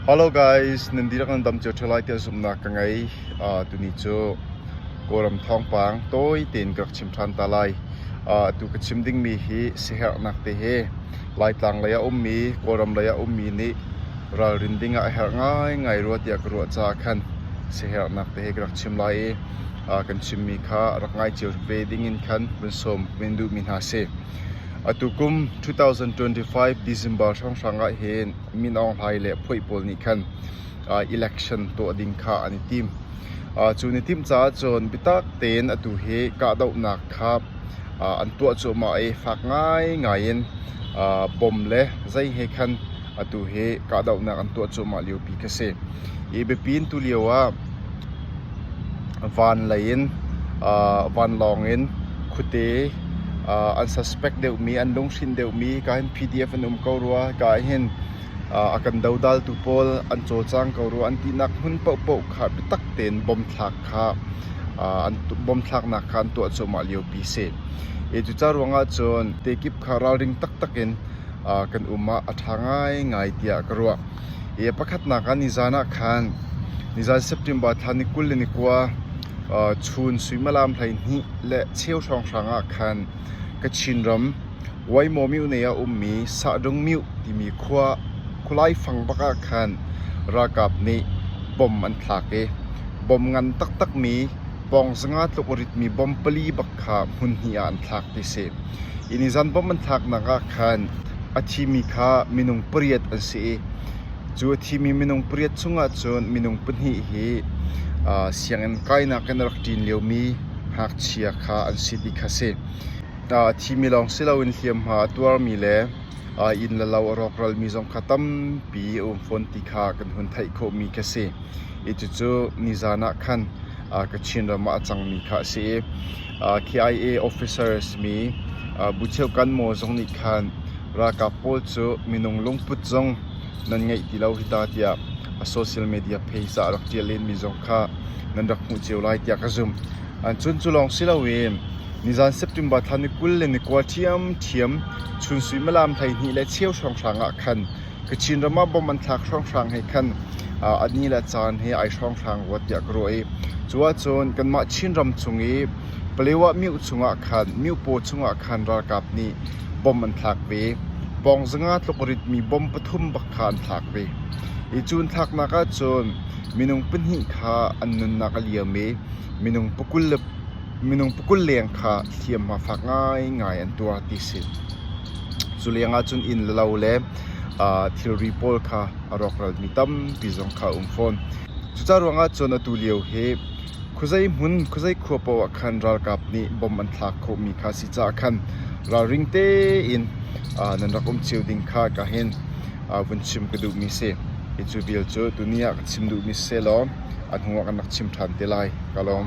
Hello guys, nan dihlak nan dam cio ṭheo lai tiah zumhnak ka ngei. Uh, tuni cu Kawlram thawngpang tawi tein ka rak chim ṭhan ta lai. Uh, atu ka chim dingmi hi siaherhnak te hi Laitlang lei ah ummi, Kawlram lei ah ummi nih ralrin ding ah a herh ngaingai rua tiah ka ruah caah khan siaherhnak te hi ka rak chim lai i uh, kan chimmi kha rak ngai cio ve ding in khan vun sawm vun duhmi hna si. Atu kum 2025 December hrawnghrang ah hin Min Aung Hlaing le phuai pawl nih khan election tuah ding kha an i tim. Cu ni timh caah cun biatak tein atu hi kahdohnak kha an tuah cuahmah i fak ngaingai in bom le zei he khan atu hi kahdohnak an tuah cuahmah liopi kha a si. Hi biapi in tulio ah Vanlawng in khuate an suspect deuhmi, an lunghrin deuhmi ka hin PDF an um ko rua. Ka ah hin a kan dodaltu pawl an cawlcang ko rua an tinak hmun paohpaoh kha biatak tein bomthlaknak kha an tuah cuahmah liopi a si. Cucaah ruangah cun te kip kha ralring taktak in kan um ah a ṭha ngaingai tiah ka ruah. Pakhatnak ah nizaan ah khan nizaan September thla ni kul le ni kua chun suimilam hleihnih le cheu hrawnghrang ah khan Kachin ram Waimo myone ah ummi Sahdung Myuh timi khualai fang bak ah khan ralkap nih bom an thlak i bom ngan taktakmi pawng zanga tluk ritmi bom pali bak kha hmun hnih ah an thlak ti a si. Hi nizaan bom an thlaknak ah khan A thimi kha minung pariat an si i cu a thimi minung pariat chungah cun minung pahnih hi sianginn kainak in a rak ṭin liomi ngakchia kha an si ti kha a si. A thimi lawng si loin hliamhma a tuarmi le inn le lo a rawkralmi zong kha tampi a um fawn ti kha kan hun theih khawhmi khi a si. Cucu nizan ah khan Kachin ram ah a cangmi kha a si i KIA officer a simi Bu Cheu Kan Maw zong nih khan ralkap pawl cu minung lungput zong nan ngeih ti lo hi ta tiah a social media page ah rak ṭial lenmi zong kha nan rak hmuh cio lai tiah ka zumh. Cun cu lawng si loin nizan September thla ni kul le ni kua ṭhiamṭhiam chunsuimalam hleihnih le cheu hrawnghrang ah khan Kachin ram ah bomb an thlak hrawnghrang he khan a ni le caan hi ai hrawnghrang rua tiah ka ruah i cuahcun kanmah Chinram chung i Paletwa mioh chungah khan miohpaw chungah khan ralkap nih bomb an thlak ve. Pawngzanga tlukritmi bomb pathum bak kha an thlak ve. Hi cun thlaknak ahcun minung pahnih kha an nunnak a liam i minung pakul le Minung pakul leng kha hliamhma fak ngaingai an tuah ti a si. Cu leng ahcun inn le lo le aa thilri pawl kha a rawkralmi tampi zong kha a um fawn. Cucaah ruang ahcun atu lio hi khuazei hmun, khuazei khua paoh ah khan ralkap nih bomb an thlak khawhmi kha a si caah khan ralring tein aa nan rak um cio ding kha ka hin aa vun chim ka duhmi a si. Hi cu vial cu tuni ah ka chim duhmi si sehlaw a hnu ah kan rak chim ṭhan te lai ka lawm.